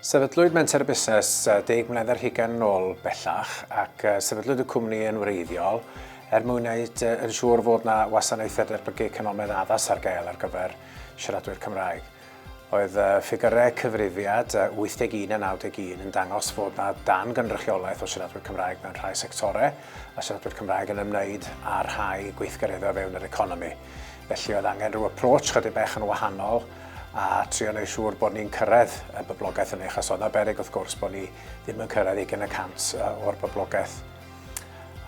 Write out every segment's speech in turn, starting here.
Sefydlwyd Menter y Busnes deg mlynedd ar hugain yn ôl bellach ac sefydlwyd y cwmni yn wreiddiol er mwyn wneud yn siŵr fod yna wasanaethau derbygig canolonnau addas ar gael ar gyfer siaradwyr Cymraeg. Oedd ffigyrau cyfrifiad 81 a 91 yn dangos fod 'na dan-gynrychiolaeth o siaradwyr Cymraeg mewn rhai sectorau, a siaradwyr Cymraeg yn ymwneud â rhai gweithgareddau o fewn yr economi. Felly oedd angen rhyw approach chydig bach yn wahanol a trio wneud siŵr bod ni'n cyrraedd y boblogaeth hynny, achos oedd 'na beryg wrth gwrs bod ni ddim yn cyrraedd ugain y cant o'r boblogaeth.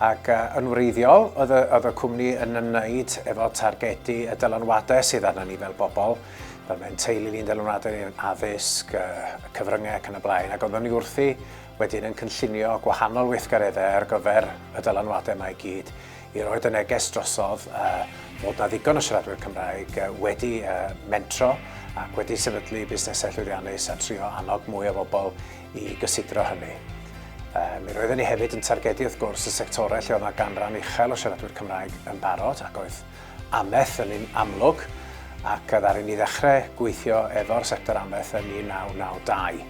Ac yn wreiddiol, oedd y, oedd y cwmni yn ymwneud efo targedu y dylanwadau sydd arna ni fel bobl, fel mae'n teulu ni'n dylanwadau yn addysg, cyfryngau ac yn y blaen, ac oeddwn ni wrthi wedyn yn cynllunio gwahanol weithgareddau ar gyfer y dylanwadau mae gyd i roi y neges drosodd uh, bod na ddigon o siaradwyr Cymraeg uh, wedi uh, mentro ac wedi sefydlu busnesau llwyddiannus a trio annog mwy o bobl i gysidro hynny. Mi roedden ni hefyd yn targedu wrth gwrs y sectorau lle oedd yna ganran uchel o siaradwyr Cymraeg yn barod ac oedd amaeth yn un amlwg ac ddaru ni ddechrau gweithio efo'r sector amaeth yn 1992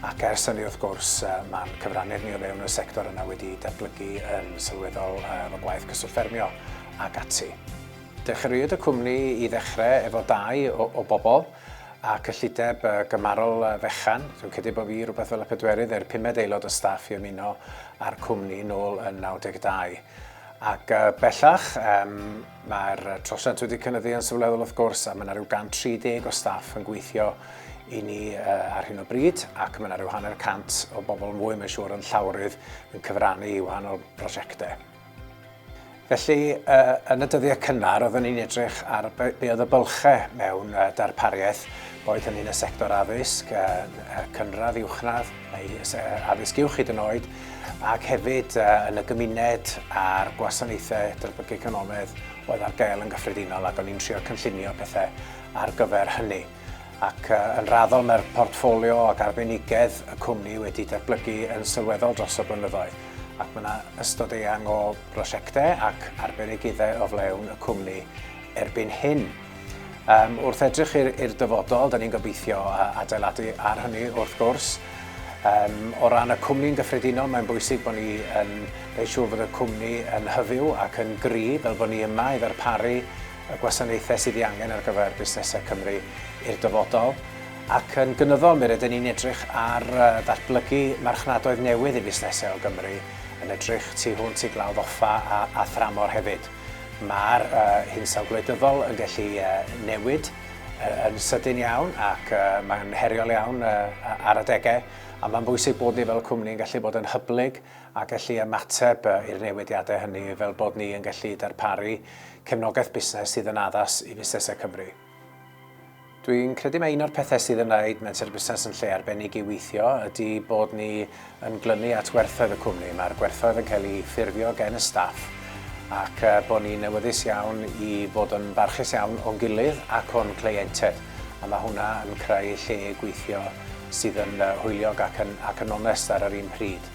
ac ers hynny wrth gwrs mae'n cyfrannu'r ni o fewn y sector yna wedi datblygu yn sylweddol efo gwaith cyswllt ffermio ac ati. Dechreuwyd y cwmni i ddechrau efo dau o, o bobl. a cyllideb gymharol fechan. Dwi'n credu bod fi rhywbeth fel y pedwerydd neu'r pumed aelod o staff i ymuno â'r cwmni nôl yn 92. Ac bellach, um, mae'r trosiant wedi cynnyddu yn sylweddol wrth gwrs, a mae yna rhyw 130 o staff yn gweithio i ni uh, ar hyn o bryd, ac mae yna rhyw hanner cant o bobl mwy, mae'n siŵr, yn llawrydd yn cyfrannu i wahanol brosiectau. Felly, yn y dyddiau cynnar, oeddwn ni'n edrych ar be oedd y bylchau mewn darpariaeth, boed hynny'n y sector addysg, cynradd, uwchradd, neu addysg uwch hyd yn oed, ac hefyd yn y gymuned a'r gwasanaethau derbygio'conomaidd oedd ar gael yn gyffredinol, ac o'n i'n trio cynllunio pethau ar gyfer hynny. ac yn raddol mae'r portffolio ac arbenigedd y cwmni wedi datblygu yn sylweddol dros y blynyddoedd, ac mae yna ystod eang o brosiectau ac arbenigyddau o flaen y cwmni erbyn hyn. Wrth edrych i'r dyfodol, dan ni'n gobeithio adeiladu ar hynny wrth gwrs. O ran y cwmni'n gyffredinol, mae'n bwysig bod ni yn gwneud siŵr bod y cwmni yn hyfyw ac yn gryf, fel bod ni yma i ddarparu y gwasanaethau sydd ei angen ar gyfer busnesau Cymru i'r dyfodol, ac yn gynyddol mi rydyn ni'n edrych ar ddatblygu marchnadoedd newydd i fusnesau o Gymru, yn edrych tu hwnt i Glawdd Offa a a thramor hefyd. Mae'r hinsawdd gwleidyddol yn gallu newid yn sydyn iawn ac mae'n heriol iawn ar adegau, ond mae'n bwysig bod ni fel cwmni yn gallu bod yn hyblyg a gallu ymateb i'r newidiadau hynny fel bod ni yn gallu darparu cefnogaeth busnes sydd yn addas i fusnesau Cymru. Dwi'n credu mae un o'r pethau sydd yn wneud Menter Busnes yn lle arbennig i weithio ydy bod ni yn glynu at werthoedd y cwmni. Mae'r gwerthoedd yn cael eu ffurfio gen y staff ac bod ni'n awyddus iawn i fod yn barchus iawn o'n gilydd ac o'n cleientiaid, a mae hwnna yn creu lle gweithio sydd yn hwyliog ac yn onest ar yr un pryd.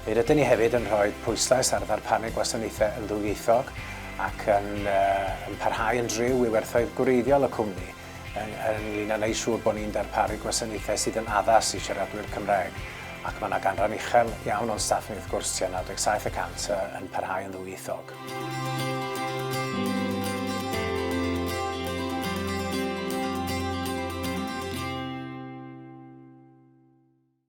Mi rydyn ni hefyd yn rhoi pwyslais ar ddarpanu gwasanaethau yn ddwyieithog ac yn parhau yn driw i werthoedd gwreiddiol y cwmni ynglŷn â wneud siŵr bod ni'n darparu gwasanaethau sydd yn addas i siaradwyr Cymraeg, ac mae 'na ganran uchel iawn o'n staff ni wrth gwrs, tua 97 y cant, yn parhau yn ddwyieithog.